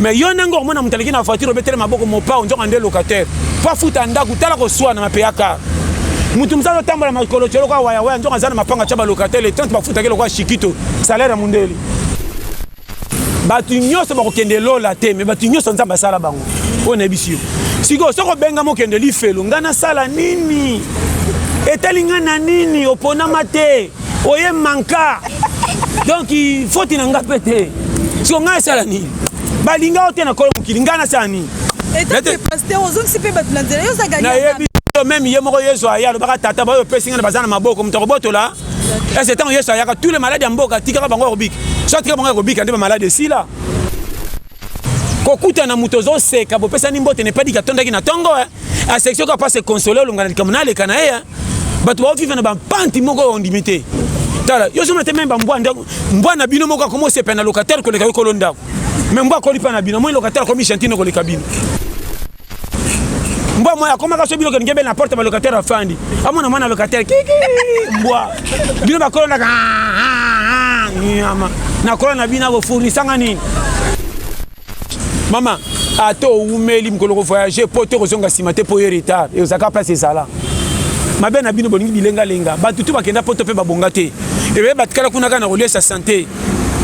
mais yo ndenge okomona moto aleki na voiture obetele maboko mopao nzoka nde locataire po afuta ndako tala koswana na peyaka moto mosusu azotambola makolo tye lokola wayawaya nzoka aza na mapanga tya balocataire etante bafutaki lokola shikito salaire ya mondele bato nyonso bakokende lola te me bato nyonso nzambe asala bango oyo nayebisi yo sikoyo soki obengama okende lifelo ngai nasala nini etali ngai na nini oponama te oye manka donc foti na nga mpe te siko ngai asala nini balinga yo te na kolo mokili ngai nasala nini nayebi yo meme ye moko yesu aya alobaka tata baoyo opesi ngai na baza na maboko moto akobotola ese ntango yesu ayaka tous les maladi ya mboka atikaka bango ya kobika so atika bango ya kobika nde bamaladi esila kokuta na moto ozoseka bopesani mbote nepadiki atondaki na ntongo eh. aseksio kaka mpasi ekonsole olonga na likambo na aleka na ye eh. bato baoviva na bampanti moko oyo ondimi te tala yo zomona te meme bambwa ndako mbwa na bino moko akomi osepela na locataire koleka yo kolo ndako me mbwa akoli mpa na bino moi locataire akomi gentine koleka bino mbwa moya akomaka so biloko ngebele na porte balocataire afandi amona mwana locataire kiki mbwa bino bakolonaka ah, ah, ah, nyama nakola na bino akofournisanga nini mama ata owumeli mokolo kovoyage mpo te kozonga nsima te mpo ye retard eozalaka place ezala mabe na bino bolingi bilengalenga bato tu bakenda poto mpe babonga te ebe batikala kuna kaka na koliesa sante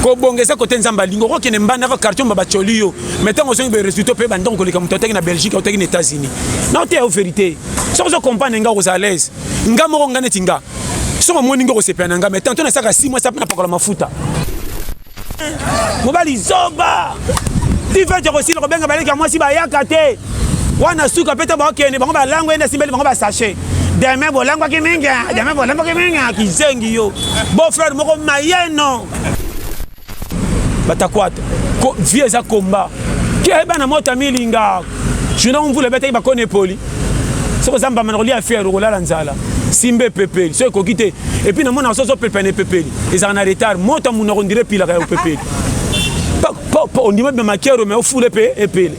kobonga eza kote nzambe alingi okokende mbanda kaka kartion babacoli yo mais ntango ozongi boye résultat ope bandako koleka moto ataki na belgique autaki na états-unis na oteya yo vérité soki ozo comprendre nga okozala alaise nga moko nga neti nga soki omoni nga okosepela na nga mais tanto nasaka 6 mois sape napakola mafuta mobali zoba tifete okosila kobenga baleki ya mwasi bayaka te wana suka mpe to bakende bango balango ende asimbeli bango basashe deme bolangwaki mingi deme bolangwaki mingi kizengi yo beau frère moko mayeno batakwata vie eza komba keba na mota milinga juna mvula ebetaki bakoni epoli soki oza mbamba na kolia fiere okolala nzala simba epepeli so ekoki te epuis namonaka soso pepe na epepeli ezalaka na retard mota munoko ndire epilaka ya opepeli ondima bima makero me ofula epe epele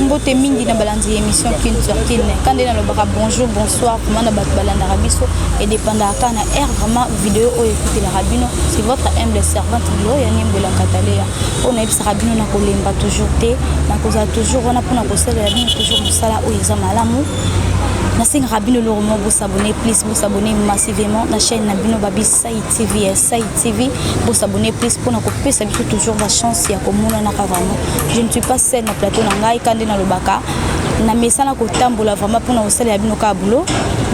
mbote mingi na balandi ya émission kin sur kin ka nde nalobaka bonjour bonsoir vraimen na bato balandaka biso edependaka kaka na aire vraiment video oyo ekutelaka bino c'est votre humble servante lilo ya niembwela kataleya oyo nayebisaka bino na kolemba toujours te nakozala toujours wana mpona kosalela bino toujours mosala oyo eza malamu nasengaka bino eloko moko bosabone plus bosabone massivement na chaîne na bino babi sai tv ya sai TV bo s'abonner please pona ko pesa biso toujours la chance ya komona na vraiment je ne suis pas seule na plateau na ngai kande na lobaka na mesana kotambola vraiment pona kosala ya bino ka boulot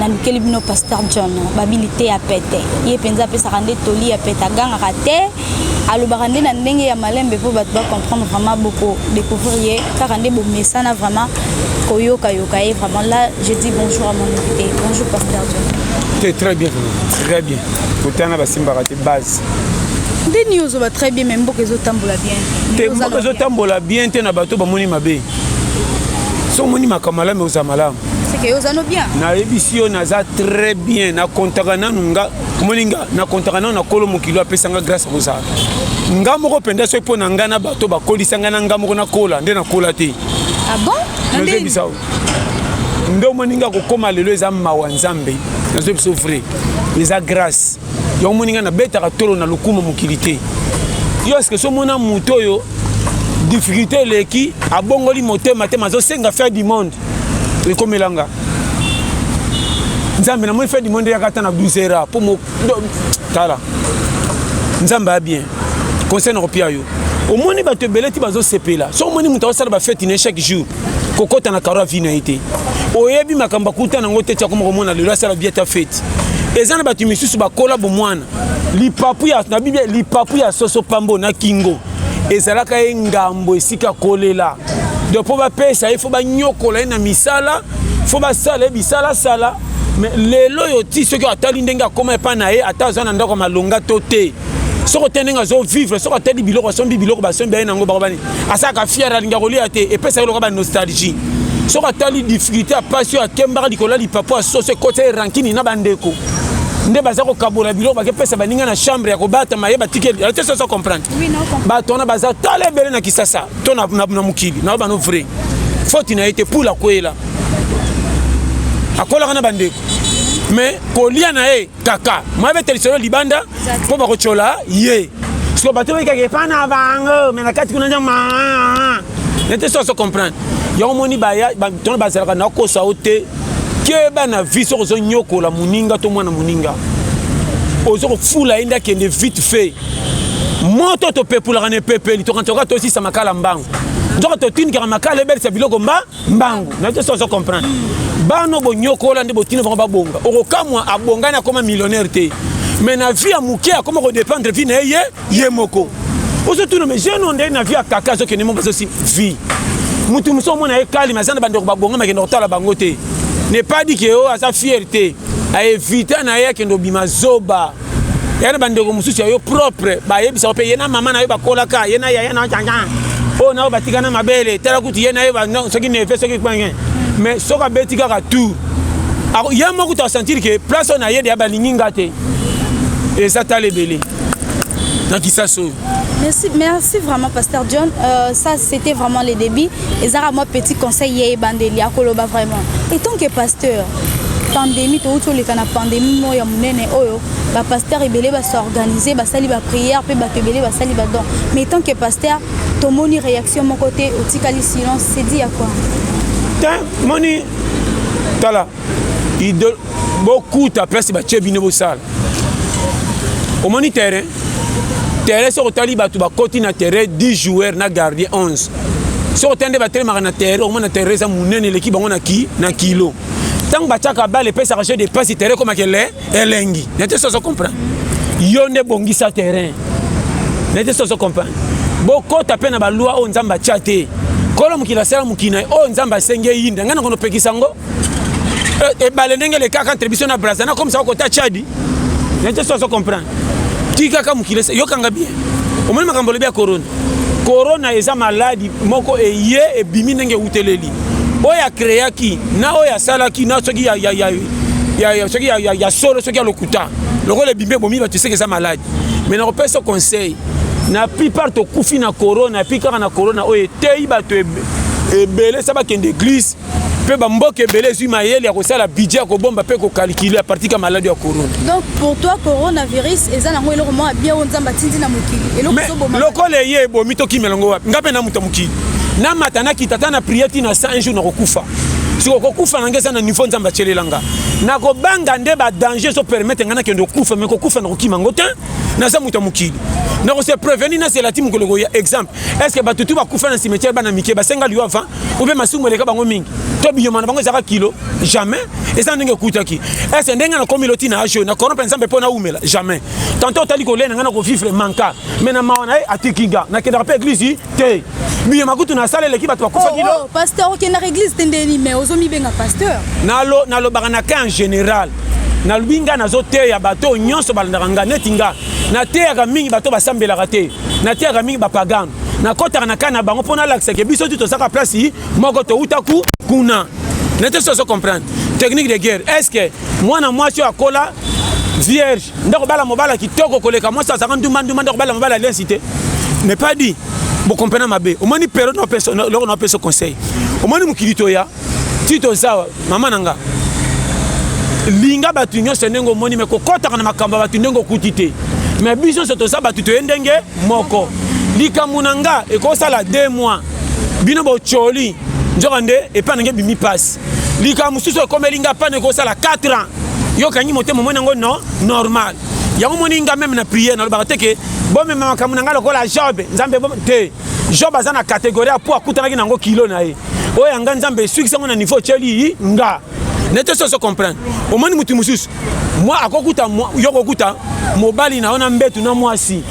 nalukeli bino pasteur john babili te ya pete ye mpenza apesaka nde toli ya pete agangaka te alobaka nde na ndenge ya malembe mpo bato bacomprendre vraiment boko découvrir ye kaka nde bomesana vraiment koyokayoka ye vraiment là je dis bonjour à mon invité bonjour pasteur john très bien très bien kotana basimbaka te base nde nio ozoba très bien mais mboka ezotambola bien te mboka ezotambola bien te na bato bamoni mabe so omoni makambo malamu oza malamu nayebisi yo naza très bien nakontaka nanu nga omoni nga nakontaka nanu na kolo mokili apesa nga grâce kozala nga moko mpenza soki mpo na ngai na bato bakolisa ngai na ngai moko nakola nde nakola te ah bon? nde omoni nga kokóma lelo eza mawa nzambe nazoyi biso vrai eza grâce yango omoni nga nabetaka tolo na lokumu mokili te yo eske so omona moto oyo difficulté eleki abongoli motema te mazosenga fin du monde ekomelanga nzambe namoni fin du monde eyaka ata na 12 heures mpo tala nzambe a bien conseil na kopia yo omoni bato ebele ti bazosepela so omoni moto aosala bafeti na ye chaque jour kokɔta na karo avi na ye te oyebi makambo akuta nango te ti akoma komona lelo asala bia ta feti eza na bato misusu bakola bomwana lipapu ya na biblia lipapu ya soso pambo na kingo ezalaka ye ngambo esika kolela donc mpo bapesa ye fo banyokola ye na misala fo basala ye bisalasala mais lelo oyo ti soki atali ndenge akoma epai na ye ata aza na ndako ya malonga to te soki ote ndenge azovivre soki atali biloko asombi biloko basombi aye nango bakobani asalaka fiere alingi akolia te epesaki loka banostalgie soki atali difficulté ya mpasi oyo akembaka likolo ya lipapo ya soso ekotisa ye rankini na bandeko nde baza kokabola biloko bakepesa baninga na chambre ya kobatama ye batikeli te soso comprendre bato wana baza tala ebele na kisasa to na mokili na yo bano vrai foti na ye te pula kwela akolaka na bandeko me kolia na ye kaka mwabete lisolo libanda mpo bakotyola ye siko bato bayikaka epa na bango me na kati kuna nde maa nete so azo comprendre yango omoni tono bazalaka na kosa yo te keba na vie soki ozonyokola moninga to mwana moninga ozo kofula ye nde akende vite fait moto topepulaka na epepeli tokanisa kaka tosisa makala mbangu nzoka totindikaka makala ebelisa biloko mba mbangu naye so ozo comprendre bano bonyokola nde botina bango babonga okokamwa abongani akoma millionnaire te mais na vie ya moke akoma kodépendre vie na ye ye ye moko ozotuna mais jeune onde na vie ya kaka azokende moko azosi vie motu mosusu omona ye kalima aza na bandeko babonga makende kotala bango te ne pas di ke o oh, aza fiere te aevita na ye akende obima zoba yana bandeko mosusu ya yo propre bayebisa yo mpe ye na mama na yo bakolaka ye na yaya na janja oyo na yo batika na mabele tala kutu ye na ye soki neve soki kpange mais soki abeti kaka tour ye moko kutu asentir ke place oyo na ye deya balingi nga te eza tala ebele na kisasa oyo Merci, merci vraiment, Pasteur John. Euh, ça, c'était vraiment le début. ezaka mwa petit conseil ya ebandeli akoloba vraiment etant que pasteur pandémie touti toleka na pandémie moko ya monene oyo bapasteur ebele basorganise basali baprière mpe bato ebele basali badon mais tant que pasteur tomoni réaction moko te otikali silence sedi ya kua te moni tala idole bokuta place batie bino bosala omoni terrain terrain soki otali bato bakoti na terrain 10 joueur na gardien 11 soki otali nde batelemaka na terrain okomona terrain eza monene eleki bango na ki na kilo ntango batiaka bale epesaka jeu de pasi terrain ekomaka ele elengi na te soso comprendre yo nde bongisa terrain na te soso comprendre bokota mpe na balwa oyo nzambe atya te kolo mokili asala mokili na ye oyo nzambe asengi eyinda ngai nakonopekisa yango Eh, ebale ndenge elekaka entre biso na braza nakomisa okota chadi nete so azo comprendre tikaka mokili yokanga bien omoni makambo olobi ya corona corona eza maladi moko eye ebimi ndenge euteleli oyo akreaki na oyo asalaki na soki ya, ya, ya, ya, ya, soki ya, ya, ya solo soki ya lokuta lokola ebimi ebomi bato eseke eza maladi mai nakopesa conseil na plupart tokufi na corona epi kaka na corona oyo eteyi bato ebele sa bakende eglise mpe bamboka ebele ezwi mayele ya kosala budget ya kobomba mpe kokalkile ya partika maladi ya corona donc pour toi coronavirus eza nango eloko moko ya bien oyo nzambe atindi na mokili eloko ezoboma lokola eye ebomi tokimela ngo wapi nga mpe na moto ya mokili namata nakita ata na priere ti na 100 jour nakokufa siko kokufa na ngai eza na niveau nzambe atyelela nga nakobanga nde badanger ezopermete ngai nakende kokufa me kokufa nakokima ngo te naza moto ya mokili nakose preveni nazela ti mokolo koya exemple estce bato tu bakufa na cimetiere bana mike basenga liwa avant ou bien masumu eleka bango mingi to binyama na bango ezalaka kilo jamais eza ndenge ekutaki ese ndenge nakomi loti na ajo na corompe nzambe mpo naumela jamais tanto otali kolia na ngai na kovivre manka me na mawa na ye atiki nga nakendaka mpe eglise te binyama kutu nasala eleki bato bakufa kilo oh, oh, pasteur okendaka eglise te ndeni me ozomibenga pasteur nalobaka na ka en général nalobi ngai nazoteya bato oyo nyonso balandaka ngai neti ngai nateyaka mingi bato basambelaka te nateyaka mingi bapagano nakotaka na kai na bango mpo nalakisa ke biso ti tozaka place moko touta ku kuna nete soki ozo comprendre technique de guerre est ce que mwana mwasi oyo akola vierge nde kobala mobala kitoko koleka mwasi azalaka ndumbandumba nde kobala mobala aliansi te n'est pas dit bokomprena mabe omoni periode loko na opeso conseil omoni mokili toya tito ozawa mama na nga linga bato nyonso ndenge omoni me kokɔtaka na makambo ya bato ndenge okuti te me biso nyonso toza bato toye ndenge moko likambo na nga ekosala de mois bino botyoli nzoka nde epai nange ebimi mpasi likambo mosusu ekomeli nga mpana ekosala 4 ans yokangi motema omoni yango no normal yango omoni nga meme na priere nalobaka te ke bomema makambo na ngai lokola jobe nzambe te Job aza na categorie ya po akutanaki na yango kilo na ye oyo ya nga nzambe esukisi yango na niveau otyeli nga nete soki ozo comprendre omoni motu mosusu mwa akokuta yo kokuta mobali na yo na mbetu na mwasi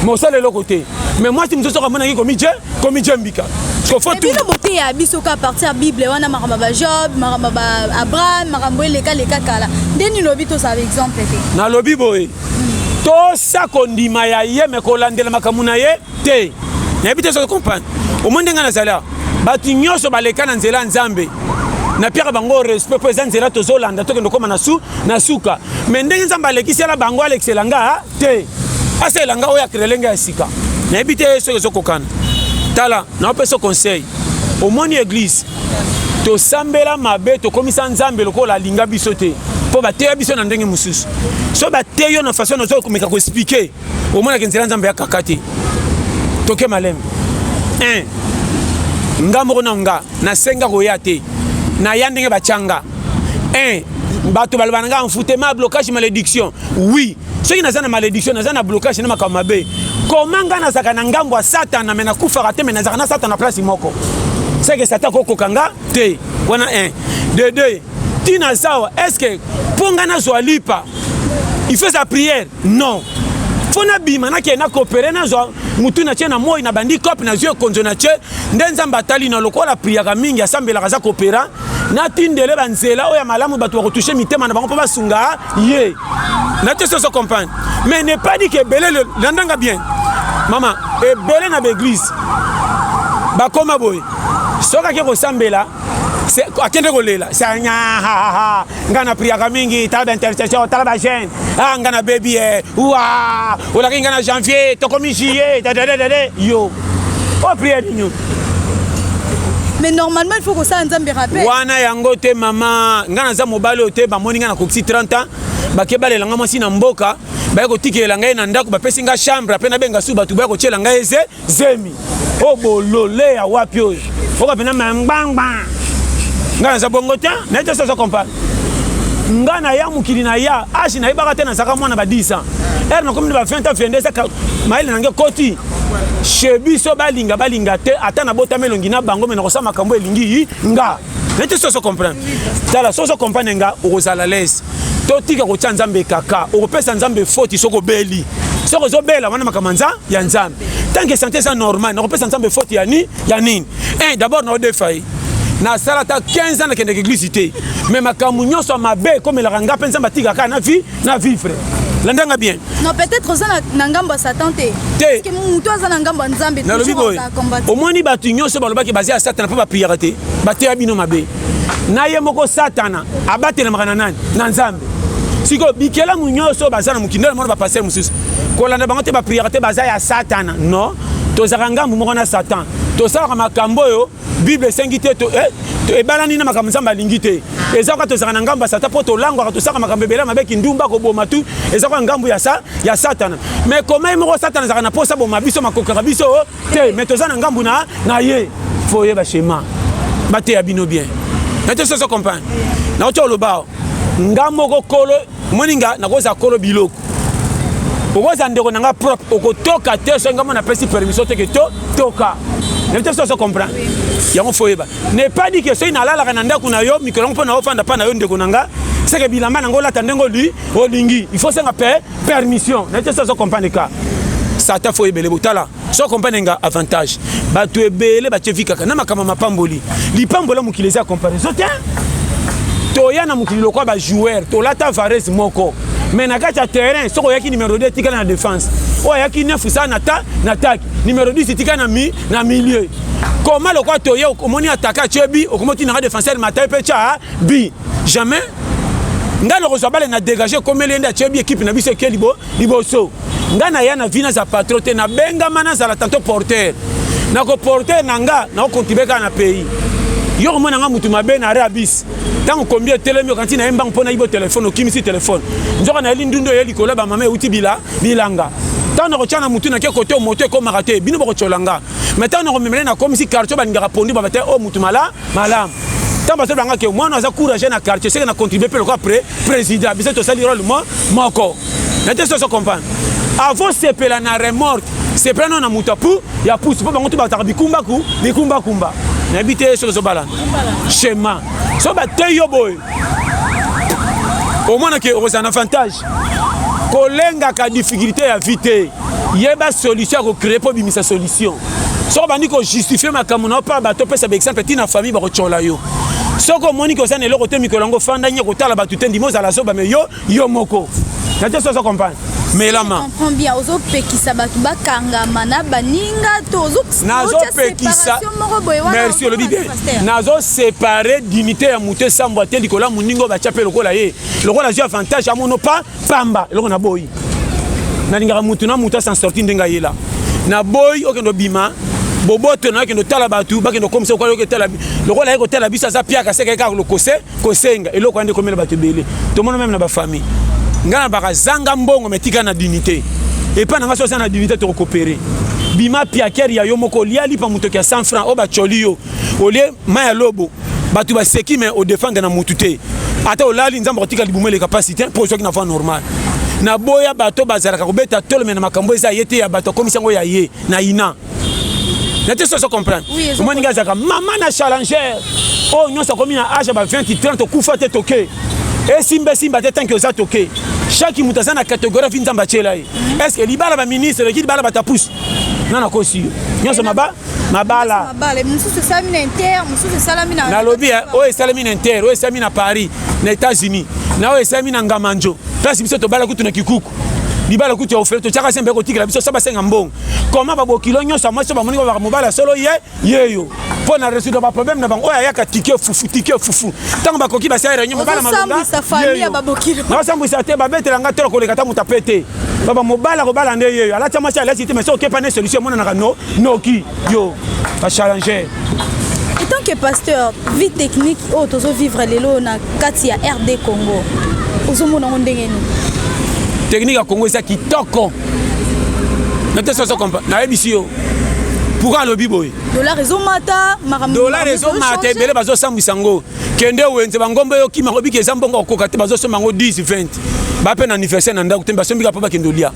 me osala eloko te me mwasi mosusu soki amonaki komije komije mbika bino boteya biso ka parti ya bible wana makambo ya bajob makambo ya baabraham makambo eleka leka kala nde nini lobi tozala exemple te nalobi boye hmm. tosa kondima ya ye me kolandela makambo na ye te nayebi te soki comprendre omoni ndenge nazali awa bato nyonso baleka na nzela ya nzambe napiaka bango respect mpo eza nzela tozolanda tokende okoma na su na suka me ndenge nzambe alekisela bango alekisela nga te asalela nga oyo akrele nga ya sika nayebi te soki ezokokana tala naopesa conseil omoni eglise tosambela mabe tokomisa nzambe lokola alinga biso te mpo bateya biso na ndenge mosusu so bateyi yo na façon nazokomeka koexplike omonaki nzela nzambe ya kaka te toke malembe un nga moko na nga nasenga koya te naya ndenge batyanga un bato baloba na nga enfutema blocage malédiction oui soki naza na malédiction naza na blocage na makambo mabe koma ngai nazalaka na ngambo ya satana me nakufaka te me nazalaka na satana place moko seke satan kokoka nga te wana 1 de 2 ntina aza awa estce mpo ngai nazwa lipa il faut eza priere non fo nabima nakende nakopere nazwa motu na tie na moi na bandi cope nazwi ekonzo na tie nde nzambe atali na lokola apriyaka mingi asambelaka aza kopera natindele banzela oyo ya malamu bato bakotushe mitema na bango mpo basunga ye nate soso comprendre mais ne pas dit ke ebele landanga bien mama ebele na baeglise bakoma boye soki ake kosambela akende kolela sanyahaha ngai na priaka mingi tala baintercession tala bajeune a ah, ngai na bebi e wa olakaki ngai na janvier tokomi juillet dadadadade yo oprie nini mais normalement il faut kosala nzambe rappel wana yango te mama ngai naza mobali oyo te bamoni ngai nakokisi 30 ans bake balela ngai mwasi na mboka baye kotikela ngai na ndako bapesi ngai chambre ape nabenga su bato baye kotyela ngai eze zemi oyo oh, bolole ya wapi oyo oka mpena ma ngbangba ngai naza bongo te naye te soza comprendre ngai naya mokili na ya age nayebaka te nazalaka mwana ba 10 ans ere nakomi na ba 20 ans 22 eza mayele nange ekoti che biso balinga balinga te ata nabotami elongi na bango me nakosala makambo elingi nga na te soso comprendre tala soso comprendre nga okozala lese totika kotya nzambe kaka okopesa nzambe foti soki obeli soki ozobela wana makambo nza ya nzambe tanke sante eza normal nakopesa nzambe foti ya nini ya nini e dabord naodefa ye nasala ata 15 ans nakendeke eglise te me makambo nyonso ya mabe ekomelaka ngai mpe nzambe atikaka na vie na vivre landa nga bien non peut-être oza na ngambo ya satan te te moto aza na ngambo ya nzambe nalobi boye omoni bato nyonso balobaki baza ya satana mpo bapriyaka te bateya bino mabe na ye moko satana abatelamaka na nani na nzambe sikoyo bikelamu nyonso baza na mokili nde namona bapaster mosusu kolanda bango te bapriyaka te baza ya satana non tozalaka ngambo moko na satan tosalaka makambo oyo bible esengi te eh, ebalani na makambo nzambe alingi te eza kaka tozalaka na ngambo ya satan mpo tolangwaka tosaka makambo ebele mabe kindumba koboma tu eza kaka ngambo ya, sa, ya satana me koma ye moko satana azalaka na mposa boma biso makokaka biso oh, te me toza na ngambo na, na ye fo oyeba shema bateya bino bien natososo comprendre naotia oloba nga moko kolo omoni nga nakozala kolo biloko okozala ndeko na nga propre okotoka te soki ngai mona apesi permission te ke to toka nayebi te soki ozo comprendre yango fo oyeba ne pas dit ke soki nalalaka na ndako na yo mikolo yango mpo na ofanda mpa na yo ndeko na nga seke bilamba nango olata ndenge oli olingi il faut senga pe permission nayebi te soki ozo comprendre ka sata fo oyebele botala so accompagne nga avantage bato ebele batye vi kaka na makambo mapamboli lipambola mokili eza comparaison te toya na mokili lokola bajoueur tolata varese moko mais na kati ya terrain soki oyaki numero 2 etikala na défense oyo ayaki 9 sa na ta na atake numero 10 etikala na, mi, na milieu koma lokola toye omoni atake atye bi okomi otinaka défenseur matai mpe tya bi jamais ngai nakozwa bale na dégage ekomeli ye nde atye bi ekipe na biso eke libo liboso nga na ya na vi naza patro te nabengama nazala tanto porteur nako porteur na nga nakokontribe kaka na pays yo komona nga motu mabe na arabis ntango kombi etelemi okanti na ye mbango mpo nayi bo telefone okimisi telefone nzoka na yeli ndundu eye likolo ya bamama euti bila bilanga ntango nakotya na motu nake kote moto ekomaka te bino bokotyola nga mai ntango nakomemele nakomisi kartio balingaka pondu baba te oyo oh, motu mala malamu ntango bazoloba nga ke mwana aza courage na quartier seke na contribue mpe lokola pre président biso tosali role mo moko na te soso comprendre avant sepela na remorte sepela nao na moto apu ya pusu mpo bango to bataka bikumbaku bikumbakumba nayebi te soki ezobalana chema so bateyi yo boye omonake okozala na avantage kolengaka difficulté ya vie te yeba solution ya kocree mpo obimisa solution soki obandi kojustifie makambo na yo mpo ya bato opesa baexemple ti na famille bakotyola yo soki omoni ke oza na eloko te mikolo yango ofanda nye kotala bato te ndima ozala zoba me yo yo moko na te so ozo comprendre melama comprend bien ozopekisa bato bakangama na baninga to nazopekisa merci olobi bien nazosepare dignité ya moto esambwa te likolo ya moninga oyo batya mpe lokola ye lokola azwi avantage amono pa pamba eloko na boyi nalingaka mutu na mutu asan sorti ndenge ayela na boyi okende obima boboto na okende otala bato bakende okomisa okwali oketala lokola ye kotala biso aza piaka seka ye kaka lokose kosenga eloko yande ekomela bato ebele tomona meme na bafamille ngai na baka zanga mbongo metika na dignité epai na ngai so aza na dignité tokokopere bima piakere ya yo moko olia lipa motoki ya 100 franc oyo bacoli yo au lieu mai ya lobo bato baseki me odefendre na motu te ata olali nzambe akotika libumu eleka mpasi te mpo ozwaki na voie normal naboya bato bazalaka kobeta tolome na makambo eza ye te ya bato akomisi yango ya ye na ina na te soso comprendre omoni ngai azalaka mama na challenger oyo oh, nyonso akomi na age ya ba 20 30 okufa te toke esimba esimba te tanke oza toke chaque moto aza na catégorie vi nzambe atyela ye est ce que libala baministre eleki libala batapuse nga nakosi yo nyonso maba mabala mabala mosusu esalami na inter mosusu esalami na nalobi eh, oyo esalami na inter oyo esalami na paris na états-unis na oyo esalami na ngamanjo place biso tobala kutu na kikuku libala kutu ya ofele totyaka se mpe kotikela biso sa basenga mbongo koma babokilo nyonso ya mwasi bamoni babaka mobali ya solo ye yeyo mpo na résoudre baproblème na bango oyo ayaka tike fufu tike fufu ntango bakoki basala réunion mobala malongaosambwisa te babetela nga tolo koleka ta moto ape te baba mobali akobala nde yeyo alati ya mwasi alati te mais so okepa ne solution emonanaka no noki yo ba challenger etant que pasteur vie technique oyo tozo vivre lelo na kati ya rd congo ozomona yango ndenge nini technique ya congo eza kitoko nate soso kompa nayebisi yo pourkui alobi boye dolar ezomata dolar ezomata ebele bazosambwisa yango kende wenze bangomba eyokima yango biki eza mbongo okoka te bazosomba yango 10 20 bape na anniversaire na ndako te basombika mpo bakende olia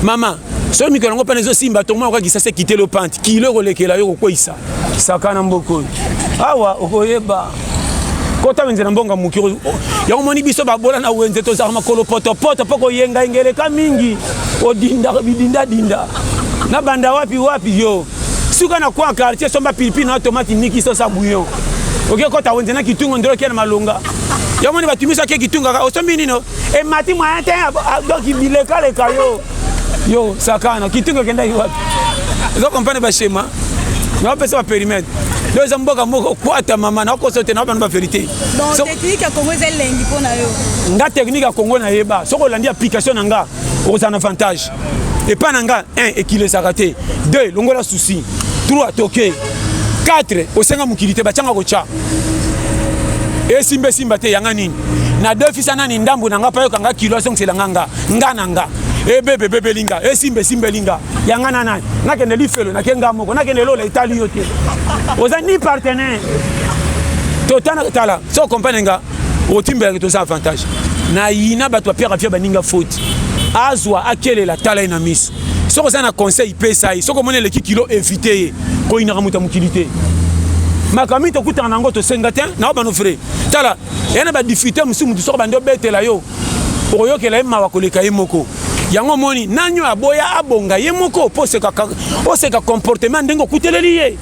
mama soki mikolo yango mpana ezosimba tongoma okoki kisasa ekite lopanti kilo ekolekela yo kokweisa saka na mboka oyo awa okoyeba kota wenze na mbonga moki yango omoni biso babola na wenze tozalaka makolo potopoto mpo koyengayenga eleka mingi odindaka bidindadinda na banda wapi wapi yo suka na kwa quartier somba pilipili na tomati niki sosa bouillon oke kota wenze na kitungo ndelo kia na malonga yango moni bato miso ake kitungaka osombi nino emati moyen te donc bilekaleka yo yo sakana kitoko ekendaki wapi eza kompane bashema naopesa baperimetre do eza mboka moko kwata mama nakokosa te naobana baverité nga teknike ya kongo nayeba soki olandi application na nga okozala na avantage epai na nga 1 ekilesaka te 2 longola souci 3 toke 4 osenga mokili te batyanga kotya esimba esimba te yanga nini na defisa nani ndambo na nga mpa yokanga kilo azongisela nga nga nga na nga ebebe ebebeli nga esimba esimbeli nga yanga na nani nakende lifelo nake nga moko nakende lola etali yo te oza ni partenaire totana tala so okomprene nga otimbelaki toza avantage na yina bato bapiaka fia baninga foti azwa akelela tala ye na miso soki oza na conseil pesa ye soki omoni eleki kilo evite ye koyinaka moto ya mokili te makambo mingi tokutana na yango tosenga te na obano fre tala eya na badifite mosusu motu soki bandi obetela yo okoyokela ye mawa koleka ye moko yango omoni nani oyo aboya abonga ye moko mpo oseka comportement ndenge okuteleli ye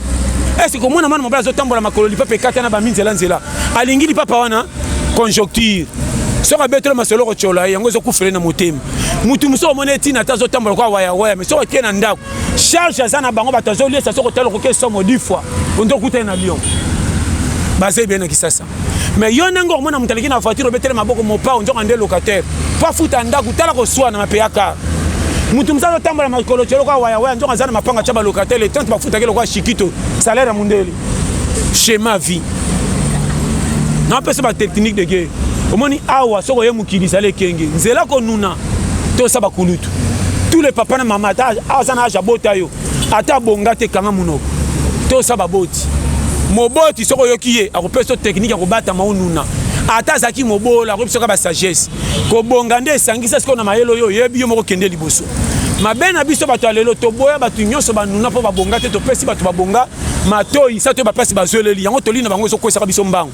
ese komona mwana mobali azotambola makolo lipapa ekata na bami nzela nzela alingi lipapa wana conjoncture soki abetelo masolo okotyola ye yango ezokufele na motema motu mosusu omoni etina ata azotambola kwa wayawaya me soki otie na ndako charge aza na bango bato azoliesa soki otala okoki esomo di fois onde okutani na lion baza ebele na kisasa mais yo ndenge okomona moto aleki na voiture obetele maboko mopao nzoka nde locataire mpo afuta ndako tala koswana na peyaka moto mosusu azotambola makolo tye lokola wayawaya nzoka aza na mapanga tya balocataire le 30 bafutaki lokola shikito salaire ya mondele schéma vie napesa batechnique de guerre omoni awa soki oye mokili ezali ekenge nzela konuna tosa bakulutu tous les papa na mama ata aza na age abota yo ata bonga te kanga munoko to sa baboti moboti soko yoki ye akopesa to technique ya kobatama onuna ata azalaki mobola akoki biso kaka basagesse kobonga nde esangisa sikoyo na mayele oyo oyebi yo moko kende liboso mabe na biso bato ya lelo toboya bato nyonso banuna mpo babonga te topesi bato babonga matoi sa to bapasi bazweleli yango toli na bango ezokwesaka biso mbango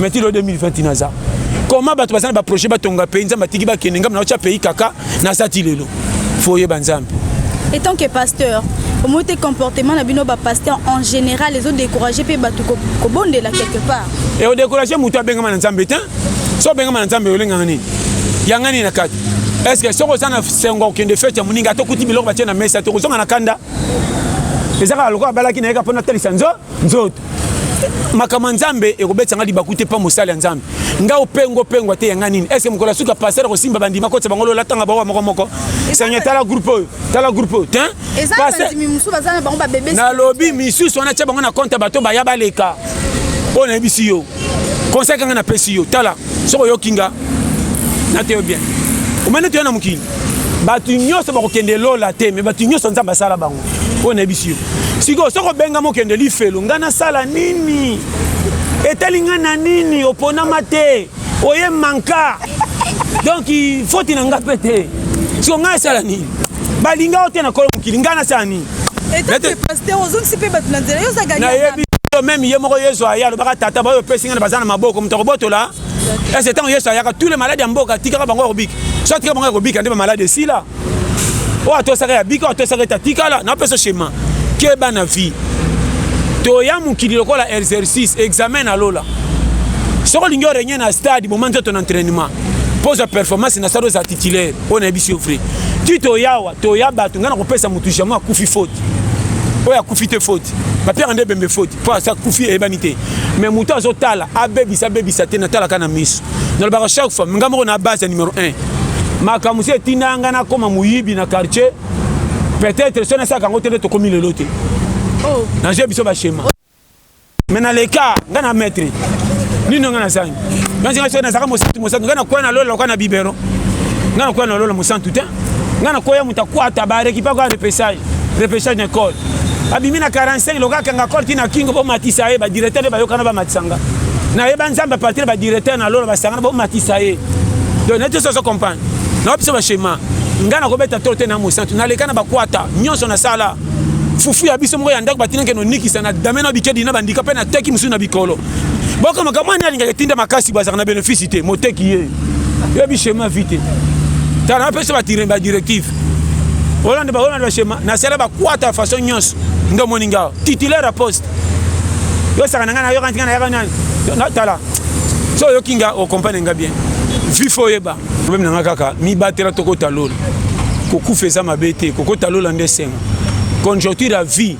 mais ti lo 2020 ti naza comment bato baza na baprojet batonga pays nzambe atiki bakende ngambo na otya pays kaka naza ti lelo fo oyeba nzambe etant que pasteur omoi te comportement na bino bapasteur en général ezodécourage mpe bato kobondela quelque part e odécourage moto abengama na nzambe te so obengama na nzambe olengaka nini yanga nini na kati estce soki oza na sengo okende fete ya moninga tokuti biloko batie na mesa tokozonga na kanda eza kaka lokola abalaki na ye ka mpo natalisa nzo nzoto makambo ya nzambe ekobetisa ngai libaku te mpo mosali ya nzambe ngai opengo opengwa te yanga nini ese mokolo ya suka pasere akosimba bandima kotisa bango lola tanga baoa moko moko seigneur tala groupe oyo tala groupe oyo tin nalobi misusu wana tya bango na konte ya bato baya baleka oyo nayebisi yo conseil kanga napesi yo tala soki oyoki nga nateyo bien omani toya na mokili bato nyonso bakokende lola te me bato nyonso nzambe asala bango oyo nayebisi yo sikoyo soki obengama okende lifelo ngai nasala nini etali ngai na nini oponama te oye manka donk foti na ngai mpe te siko ngai asala nini balinga yo te na kolo mokili ngai nasala nini nayebi yo meme ye moko yesu aya alobaka tata baoyo opesi ngai na baza na maboko moto akobotola ese ntango yesu ayaka tous les maladi ya mboka atikaka bango akobika so atika bango akobika nde bamaladi esila oyo atosaka ya bika oyo atosaka ete atikala napesa shema keba na vie toya mokili lokola exercice examen na lola soki olingi orenye na stade boma nzoto na entraînement mpo ozwa performance na stade oza titulaire oyo nayebisi yo vrai ti toyawa toya bato ngai nakopesa motu jamai akufi faute oyo akufi te faute bapiaka nde ebembe faute mpo akufi eyebani te mais moto azotala abebisa abebisa te natalaka na miso nalobaka chaque fois ngai moko na base ya numero 1 makambo si etinda ngai nakoma moyibi na quartier peut-être so nasalaka yango te nde tokomi lelo te oh. naje biso bashema mais na leka nga na maître nini nga na zangi nga zinga so na zaka mosantu mosantu nga na kwa na lola kwa na bibero nga na kwa na lola mosantu te nga na koya muta kwa ta ba récupère quoi repêchage repêchage na col abimi na 45 loka kanga col tina kingo bo matisa ye ba directeur ba yokana ba matisanga na ye ba nzamba partir ba directeur na lola ba sangana bo matisa ye donc na tiso so comprendre na biso ba schéma nga na kobeta to te na mosantu na leka na bakwata nyonso na sala fufu ya biso moko ya ndako batindaki nonikisa na dame na bikedi na bandika mpe nateki mosusu na bikolo boko makambo ani alingaka etinda makasi bazalaka na benefice te moteki ye yebi shema vi te tala napesa badirective olanda baolanda bashema nasala bakwata ya façon nyonso nde omoni ngawa titulaire ya poste yosaka na ngai nayoka ntinga nayaka nani tala so oyoki nga okompane nga bien vifo oyeba problème na nga kaka mibatela tokota lola kokufa eza mabe te kokota lola nde esengo conjoncture ya vie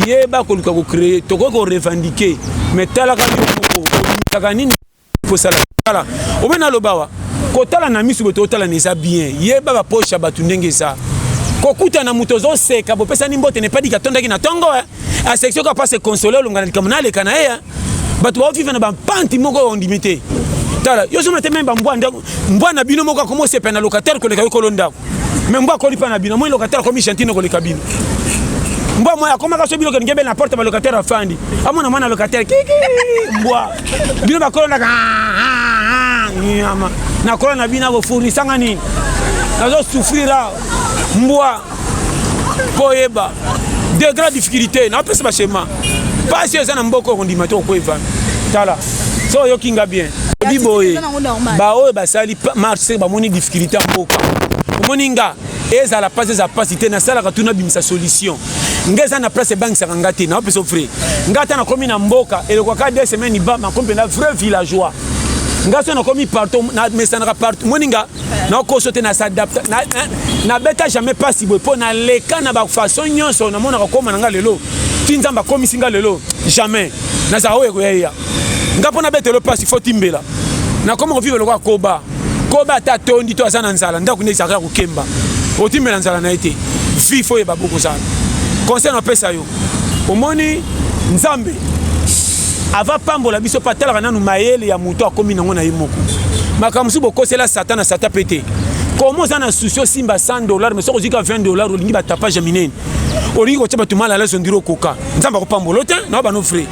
yeba koluka kocreye tokoki korevendike me talaka yo moko olimikaka nini kosala tala obe nalobawa kotala na miso boto otalana eza bien yeba bapoche ya bato ndenge eza kokuta na moto ozoseka bopesani mbote nepadiki atondaki na ntongo eh? asekisi oka mpasi ekonsole olonga na likambo naleka na ye eh? bato baoviva na bampanti moko oyo ondimi te tala yo ozomona te meme bambwa ndako mbwa na bino moko akomi osepela na locataire koleka yo kolo ndako me mbwa akoli mpa na bino moi locataire akomi gentine koleka bino mbwa moi akomaka so bino kelingi ebele na porte balocataire afandi amona mwana locataire kiki mbwa bino bakolo ndaka ah, ah, ah, nyama nakolo na bino akofurisanga nini nazo souffrir awa mbwa mpo oyeba de grand difficulté napesa bashema mpasi eza na mboka okondima te okweva tala so oyoki nga bien obi boye baoyo basali marche bamoni difficulté ya mboka omoni nga ezala mpasi eza mpasi te nasalaka tu nabimisa solution nga eza na place ebangisaka nga te naopesa ofre nga ata nakomi na mboka elekaka de semaine ibama komi mpenza vrai villageois nga so nakomi partout namesanaka partout moni nga nakoso te na s'adapta nabeta jamais mpasi boye mpo naleka na bafaçon nyonso namonaka koma na ngai lelo ti nzambe akomisi ngai lelo jamais nazala oyo ekoyaya ngai mpo nabetelo mpasi fo timbela nakoma kovivre lokola koba koba ata atondi to aza na nzala ndako nde ezalaka ya kokemba otimbela nzala na ye te vi fo yeba bokozala conseil napesa yo omoni nzambe ava pambola biso mpe atalaka nanu mayele ya moto akomi nango na ye moko makambo mosusu bokosela sata na sata mpe te koma oza na susi osimba 100 dollar mais soki ozwika 20 dollar olingi batapage ya minene olingi kotya bato mala alaso ondiri okoka nzambe akopambola te na bano frai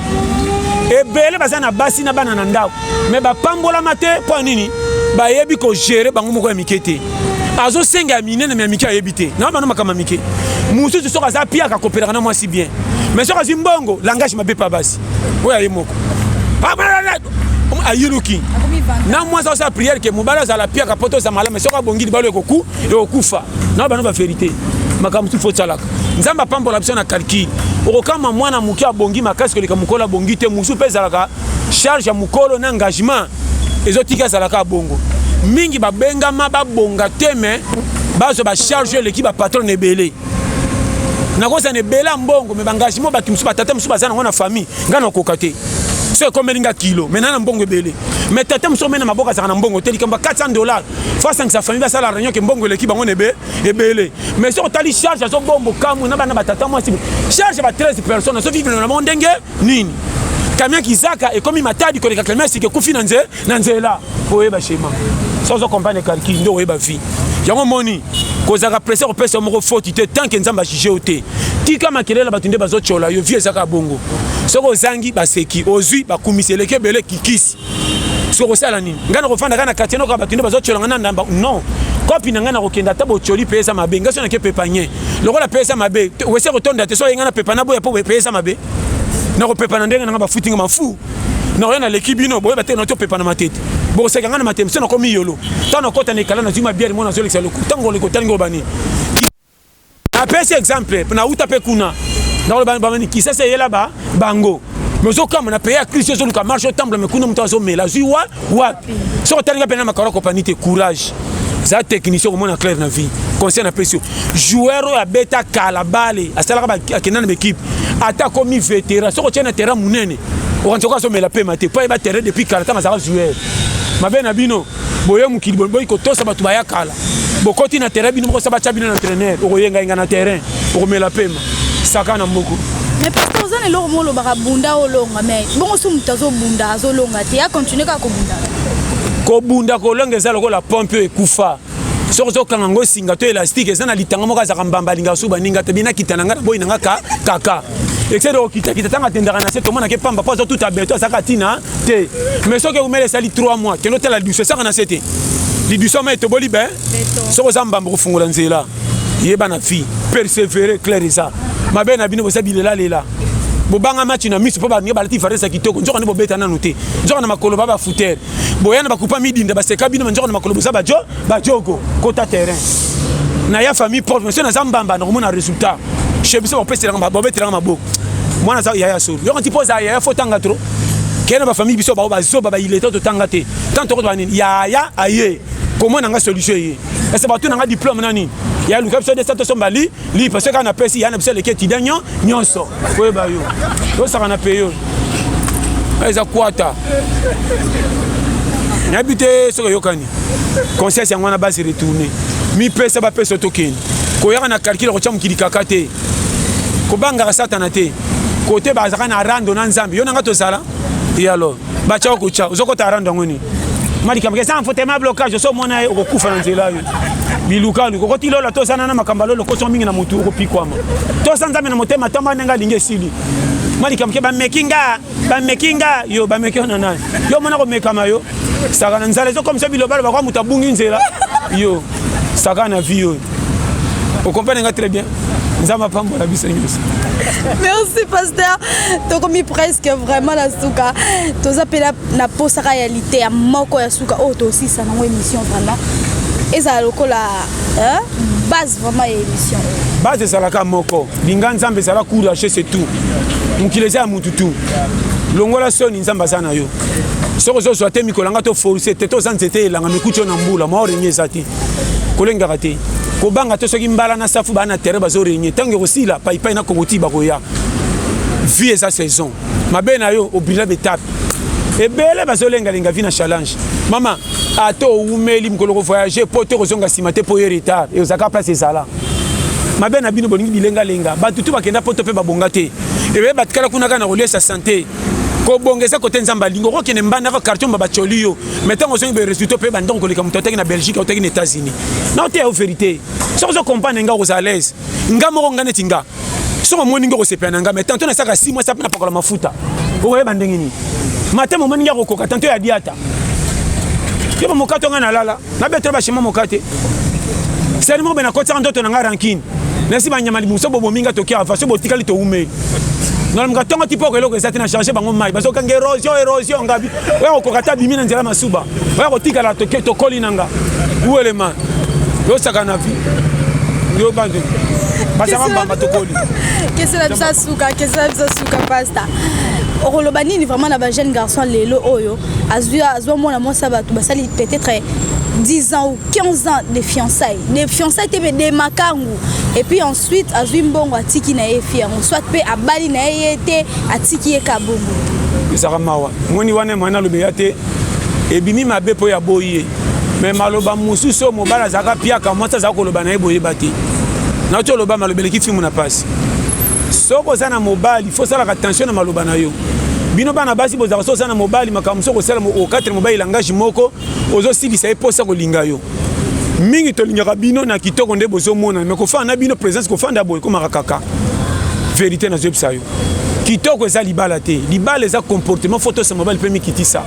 ebele baza na basi na bana na ndako mais bapambolama te mpo ya nini bayebi kogere bango moko ya mike te azosenga ya minene me ya mike ayebi te na bana makambo ya mike mosusu soki aza piaka akopelaka na mwasi bien mais soki azwi mbongo langage mabe mpe basi oyo aye moko ayiluki na mwasi asala priere ke mobali azala piaka mpo toza malamu soki abongi libalo ekoku ekokufa na bana baverité makambo mosusu fo osalaka nzambe apambola biso na calcule okokama mwana moke abongi makasi koleka mokolo abongi te mosusu mpe ezalaka charge ya mokolo na engagement ezotika ezala kaka bongo mingi babengama babonga te me bazwa bacharge oyo eleki bapatron na ebele nakozala na ebele ya mbongo me baengagement bato mosusu batata mosusu baza nango na famille ngai nakoka te so ekomeli nga kilo me na na mbongo ebele me tata mosusu omei na maboko azalaka na mbongo te likambo ya 400 dollar fo asangisa famille basala réunion ke mbongo eleki bango na ebele me soki otali charge azobombo kamwe na bana batata mwasi charge ya ba 13 personnes azovivre na bango ndenge nini camion kizaka ekomi matadi koleka camion sika ekufi na nze na nzela oyeba shema so ozo comprendre kalki nde oyeba vie yango moni kozalaka presse kopesa moko foti te tant ke nzambe ajuge yo te tika makelele na bato nde bazotyola yo vie ezaka bongo soki ozangi baseki ozwi bakumisi eleki ebele kikisi soki okosala nini ngai nakofanda kaka na quartier noko ya bato nde bazotyola ngai na ndamba non kopi na ngai nakokenda ata botyoli mpe eza mabe ngai so nake pepanye lokola mpe eza mabe wese kotonda te so oye ngai napepa na boya mpo mpe eza mabe nakopepa na ndenge na ngai bafuti ngai mafu nakoya naleki bino boyeba te nati opepa na matete bokoseka ngai na matete mpe so nakomi yolo ntango nakota na ekala nazwi mabiali mona azolekisa loku ntango olekotali ngobani Napesi exemple na uta pe kuna ndako ba ba kisa se yela ba bango mezo kama na pays ya Christ ezo luka marche otambula me kuna moto azo mela zui wa wapi so otalinga pe na makaro compagnie te courage za technicien okomona clair na vie conseil na pesi joueur oyo abeta kala bale asalaka akenda na baekipe ata akomi vétéran soki otye na terrain monene okanisa okoki azomela pema te mpo ayeba terrain depuis kala ntango azalaka joueur mabe na bino boye mokili boyi kotosa bato baya kala bokoti na terrain bino mokosa batya bino na entraîneur okoyengayenga na terrain okomela pema saka na mboko mais pasteur oza na eloko moko olobaka bunda olonga mais bongo so moto azobunda azolonga te akontinue kaka kobunda kobunda kolonga eza lokola pompe oyo ekufa soki ozokanga ngo singa to elastike eza na litanga moko azalaka mbamba alingaka so baninga te bina kita na ngai na boyi na ngai kaka excès de kokitakita ntango atendaka na se tomonake mpamba mpo aza tout abeto azalaka ntina te mais soki eumela esali 3 mois kende otala lidusu esaka na se te lidusu ama etoboli be soki oza mbamba kofungola nzela yeba na fille persévéré claire eza mabe na bino boza bilelalela bobanga match na miso mpo baninga balati varese ya kitoko nzoka nde bobeta nanu te nzoka na makolo ba bafutere boya na bakupa midinda baseka bino manjoko na makolo boza bajo bajogo kota terrain na ya famille proche monsieur naza mbamba na komona résultat chez biso bapeselanga babetelanga maboko mwana aza yaya solo yoko nti mpo oza yaya fo otanga trop kei na bafamille biso bao bazoba baileta totanga te ntango tokotoba nini yaya aye komona nga solution eye ese bato na nga diplome na nini ya luka biso desa tosombali Li parce que quand on appelle si yana biso leke tida nyon nyonso. Koye ba yo. Yo saka na peyo. Eza kwata. Nabi te soki oyokani. Conscience yango wana basi retourner. Mipesa bapesa tokende. Koyaka na calcul kotya mokili kaka te. Kobangaka satana te. Kote bazalaka na rando na Nzambe. Yo na ngai tozala. Et alors bacha okocha ozokota arando yango nini malikambo eza enfotema blocage oso omona ye okokufa na nzela yo bilukani kokoti lola tozana na makambo alo lokoso mingi na motu okopikwama tosa nzambe na motema tamba ndenge alingi esili malikambo ke bameki nga bameki nga yo bameki yo na nani yo omona komekama yo saka na nzala ezokomisa bilobaloba kwa moto abungi nzela yo saka na vie oyo okomprane nga très bien nzambe apambola biso nyonso merci pasteur tokomi presque vraiment na suka toza mpe na posaka ya liteya moko ya suka oyo oh, tosisa nango émission vraiment ezala lokola base vraiment ya émission base ezalaka moko linga nzambe ezala courage c'est tout mokili eza ya mutu tu longola soni nzambe aza na yo soki ozozwa te mikolo yanga to force te toza nzete elanga mikuti yo na mbula mwa orenye eza te kolengaka te kobanga to soki mbala na safu baa na terrain bazorenye ntango ekosila paipai na kokoti bakoya vie eza saison mabe na yo obrila betape ebele bazolengalenga vi na challenge mama ata owumeli mokolo kovoyage mpo te kozonga nsima te mpo ye retard eozalaka place ezala mabe na bino bolingi bilengalenga bato tu bakenda poto mpe babonga te ebele batikala kuna kaka na koliesa sante kobonga eza kote nzambe alingi okokende mbanda kaka quartier mba bacoli yo mai ntango ozongi baresultat mpe bandako koleka moto ataki na belgique autaki na états-unis na oteya yo verité soki ozo comprendre nga okozala alaise nga moko nga neti nga soki omoni ngi okosepela na nga mai tanto nasaka si mwasi apena pakola mafuta okoyeba ndenge nini matema omoni ngi akokoka tanto ya diata yo bamokato nga nalala Na beto ba shema mokate. Sani mo bena kotsaka ndoto na nga rankine. Nasi ba nyama libuso bo bominga tokia afa so botikali to ume. Na mga tongo tipo ko eloko ezati na changer bango mai. Baso kanga erosion erosion ngabi. Oya ko kokata bimi na nzela masuba. Oya ko tikala to to koli nanga. Uele man. Yo saka na vie. Yo bande. Basama mbamba to koli. Kesi na bisa suka, kesi na bisa suka pasta. okoloba nini vraiment na ba jeune garçon lelo oyo azwi azwa mwana mwasi ya bato basali peut-être 10 ans ou 15 ans de fiançailles de fiançailles te mais de makangu et puis ensuite azwi mbongo atiki na ye fi yango soit mpe abali na ye ye te atiki ye kabongo ezaka mawa moni wana emani alobela te ebimi mabe mpo ya boyi ye me maloba mosusu oyo mobali azalaka piaka mwasi azalaka koloba na ye boyeba te nauti oloba malobeleki fimu na mpasi soki oza na mobali Il faut salaka attention na maloba na yo. Bino bana basi bozaka so sana mobali makambo so kosala mo okatre mobali langage moko ozo silisa ye posa kolinga yo. Mingi tolingaka bino na kitoko nde bozo mona mais kofana na bino presence kofanda boye komaka kaka. Verite na zebisa yo. Kitoko eza libala te. Libala eza comportement faut tosa mobali pe mikitisa.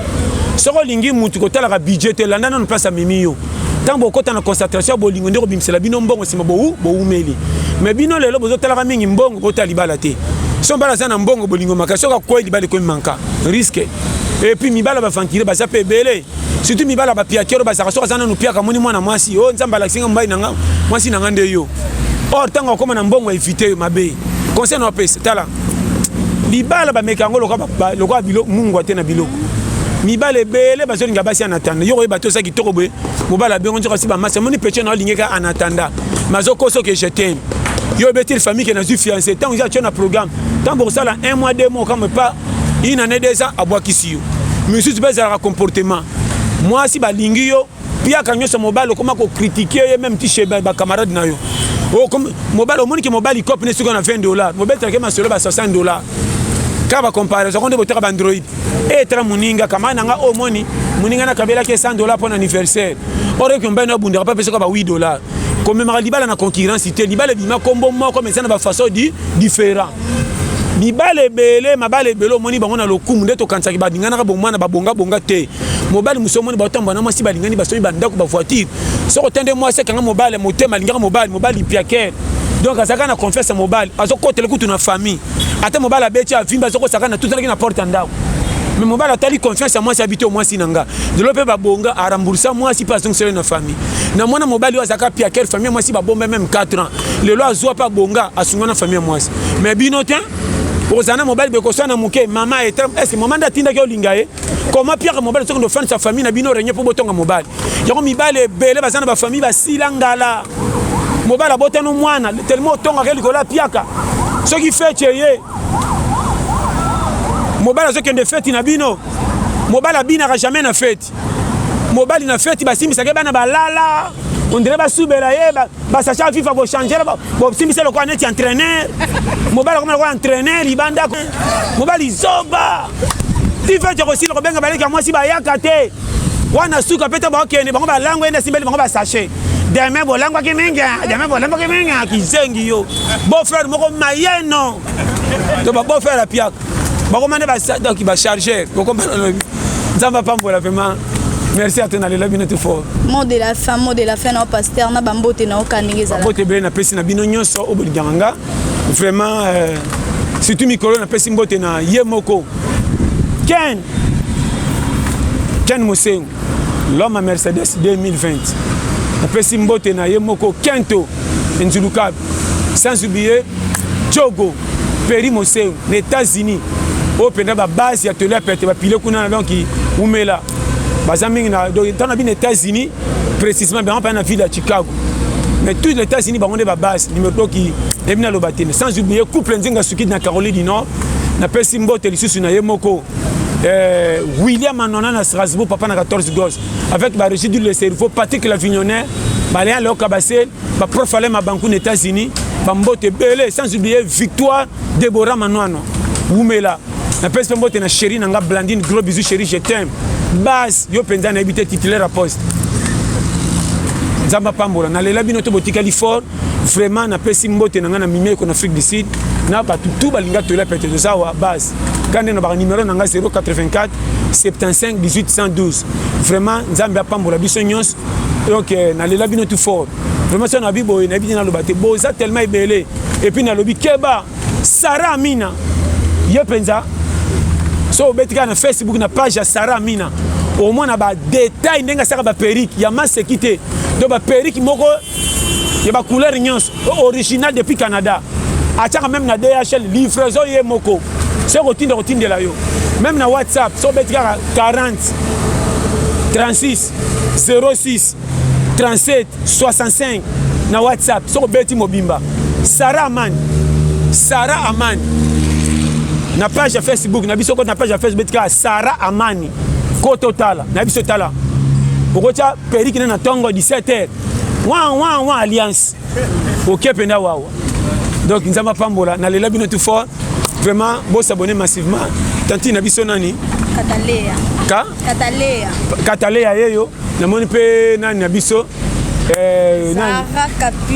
Soko lingi mutu kotalaka budget te landa nanu place amemi yo. ntango bokota na concentration ya bolingo nde kobimisela bino mbongo nsima bowu bowumeli me bino lelo bozotalaka mingi mbongo botala libala te so mbala aza na mbongo bolingo maka soki akwei libala ekomi manka riske epuis mibala bavankire baza mpe ebele surtout mibala bapiakero bazalaka soki aza nanu piaka amoni mwana mwasi o oh, nzambe alakisi nga mobali na nga mwasi na nga nde yo or ntango akoma na mbongo evite yo mabe conseil na opesa tala libala bameka yango lokola biloko mungwa te na biloko mibala ebele bazolinga basi ya natanda yo koyeba te oza kitoko boye mobala bengo nzoka si bamasi amoni peche na olingeka anatanda mazokosa oke je teme yo obeteli famille ke nazwi fiance ntango eza atyo na programme ntango bokosala un mois deux mois kamwe pa une année deux ans abwakisi yo misusu mpe ezalaka comportement mwasi balingi yo piaka nyonso mobali okoma ko critiquer ye même ti chez ba camarade na yo oh, mobali omoni ke mobali cope ne soki na 20 dollars mobali take masolo ba 60 dollars kaka ba comparaison konde botaka ba android e tala moninga kama na nga omoni oh, moninga na kabelaki 100 dollars mpo na anniversaire ore ke mobali na obundaka mpe apesaka ba 8 dollars komemaka libala na concurrence te libala ebima kombo moko mais eza na bafaçon di différent mibala ebele mabala ebele omoni bango na lokumu nde tokanisaki balinganaka bomwana babongabonga te mobali mosusu omoni baotamba na mwasi balingani basomi bandako bavoitire soko te nde mwasi akanga mobali motema alingaka mobali mobali piakere donc azalaka na confiance ya mobali azokotela kutu na famille ata mobali abeti avimbi azokosaka na tutanaki na porte ya ndako me mobali atali confiance ya mwasi abiti o mwasi na nga lelo mpe babonga aramboursa mwasi mpe azongiseli na famille na mwana mobali oyo azalaka piaker famille mwasi babomba meme 4 ans lelo azwa mpe abonga asunga na famille mwasi mais bino te okozala na mobali bekoswa na moke mama ete ese mama nde atindaki olinga ye koma piaka mobali soki ndofandisa famille na bino renye mpo botonga mobali yango mibali ebele baza na bafamille basila ngala mobali abotano mwana telema otongaka likolo ya piaka soki feti eye mobali azokende feti na bino mobali abinaka jamais na feti feti mobali na feti basimbisaka bana balala ondire basubela ye basacha fifa kochangela bosimbisa lokola neti entraîneur mobali akoma lokola entraîneur libanda mobali zoba tifeti akosila kobenga baleki ya mwasi bayaka te wana suka mpe te bakokende bango balango ye nde asimbeli bango basache deme bolangwaki mingi deme bolangwaki mingi kizengi yo beau frère moko mayeno to ba beau frère apiaka bakoma nde bachargeur bokomana nzambe apambola vraiment merci ate nalela bino te fort mot de la fin mot de la fin nao paster na bambote nao ka ndenge ezalabote ebele napesi na bino nyonso oyo bolingaka nga vraiment euh, surtout mikolo napesi mbote na ye moko ken ken mosengo l'homme à mercedes 2020 napesi mbote na ye moko kento enzulukabe sans oublier jogo Peri Moseu na Etats-Unis oyo mpenza babase ya toli ya pete bapile kuna na donc umela baza mingi na donc ntango na bino Etats-Unis précisément bango mpenza na ville ya Chicago mais tout les États-Unis bango nde babase nimekoki ebi naloba te sans oublier couple nzinga sukidi na Caroline du Nord napesi mbote lisusu na ye moko euh, William Anona na Strasbourg papa na 14 gos avec barégide le cerveau Patrick Lavignonnet Balean Leoka Basel ba prof Alain Mabanku na États-Unis ba mbote ebele sans oublier Victoire Deborah Manwano wumela na pesi mbote na chérie na nga Blandine gros bisous chérie je t'aime base yo penza na ebité titulaire à poste nzambe apambola nalela bino to botikali fort vraiment napesi mbote na ngai na mimeko na afrique du sud na bato tu balinga toyela pete toza wa base kande na baka numero na ngai 084 75 1812 vraiment nzambe apambola biso nyonso donc euh, nalela bino tout fort vraiment soki nabi boye nayebi te naloba te boza tellement ebele epuis nalobi keba sara amina ye mpenza so obeti kaka na facebook na page ya sara amina omona badetail ndenge asaka baperike ya maseki te to baperike moko ya bacouleur nyonso original depuis canada atiaka meme na dhl livraison ye moko soki kotinda kotindela yo meme na whatsapp so obeti kaka 40 36 06 37 65 na whatsapp soki obeti mobimba sara amani sara amani na page ya facebook na biso koti na page ya facebook beti kaka sara amani ko totala na biso tala okotya periki na na ntongo 17 heure wa wa wa alliance oke mpenza wawa donc nzambe apambola nalela bino tout fort vraiment bosabone massivement tantine na biso nani kataleya ka kataleya kataleya yeyo namoni mpe nani na biso eh,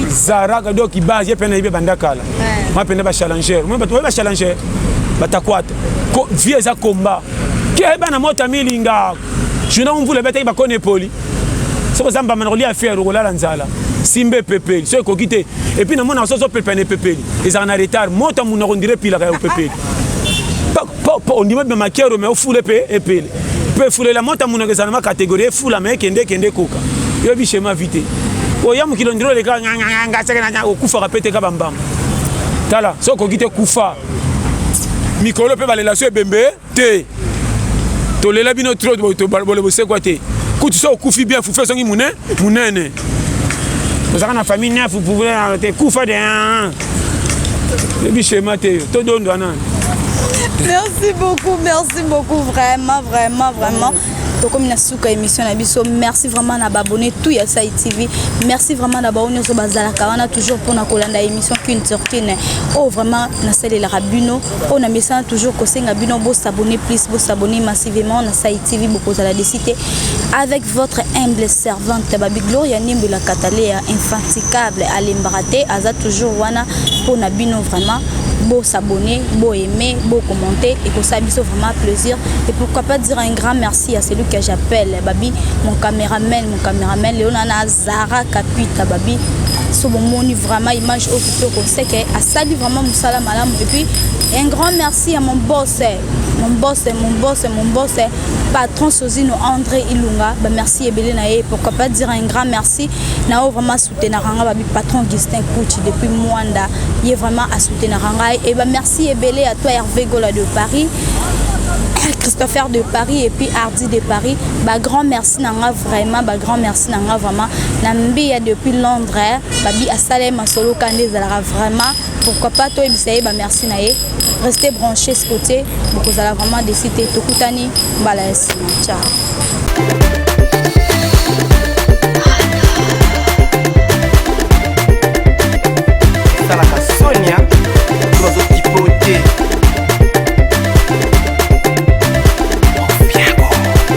zaraka do kibase ye mpe nayebi ebanda kala eh. ma mpenza bachallenger moni bato baye bachallenger batakwata vie eza combat keba na mota milinga Juna mvula ebetaki bakoni epoli soki oza mbamba na kolia fiere okolala nzala simba epepeli soki ekoki te epuis namonaka soki ozopepela na epepeli ezalaka na retard moto ya munoko ndire epilaka ya opepeli ondima bima makero me ofule mpe epele mpe efulela moto ya munoko ezala na makategorie efula me ekende ekende ekoka yoyebi shema vi te oya mokili ondire oleka okufaka mpe teka bambamba tala soki okoki te kufa mikolo mpe balelation ebembe te tolela bino trop bole bosekwa te kutu so okufi bien fufu ezongi mune munene ozalaka na famille nefu pouvoir yango te kufa de yebi shema te yo todondwa nani merci beaucoup merci beaucoup vraiment vraiment vraiment tokomi na suka émission na biso merci vraiment na baabonné tout ya sai tv merci vraiment na baoyo nyonso bazalaka wana toujours mpona kolanda émission qu'une sur qu'une oyo oh, vraiment nasalelaka bino oyo na mesana toujours kosenga bino bo s'abonner plus bo s'abonner massivement na Sai TV bokozala de cité avec votre humble servante babi Gloria Nimbu la Catalea infatigable alembaka te aza toujours wana mpo na bino vraiment bo s'abonner bo aimer bo commenter et ça biso vraiment plaisir et pourquoi pas dire un grand merci à celui que j'appelle babi mon caméraman mon caméraman Léonana Zara Kapita babi so bomoni vraiment image oyo kitoko seke asali vraiment mosala malamu et puis un grand merci à mon boss mon boss mon boss mon boss patron Sozino André Ilunga ba merci ebele na ye pourquoi pas dire un grand merci na o vraiment soutenir nga babi patron Augustin Kuchi depuis Mwanda ye vraiment a soutenir nga et ba merci ebele à toi Hervé Gola de Paris Christopher de Paris et puis Hardy de Paris ba grand merci na nga Vraiment ba grand merci na nga vraiment na mbiya depuis Londres babi asala ye masolo kande ezalaka vraiment pourquoi pas toyebisa ye ba merci na ye restez branché ce côté bokozala vraiment desite tokutani mbala ya nsima ciao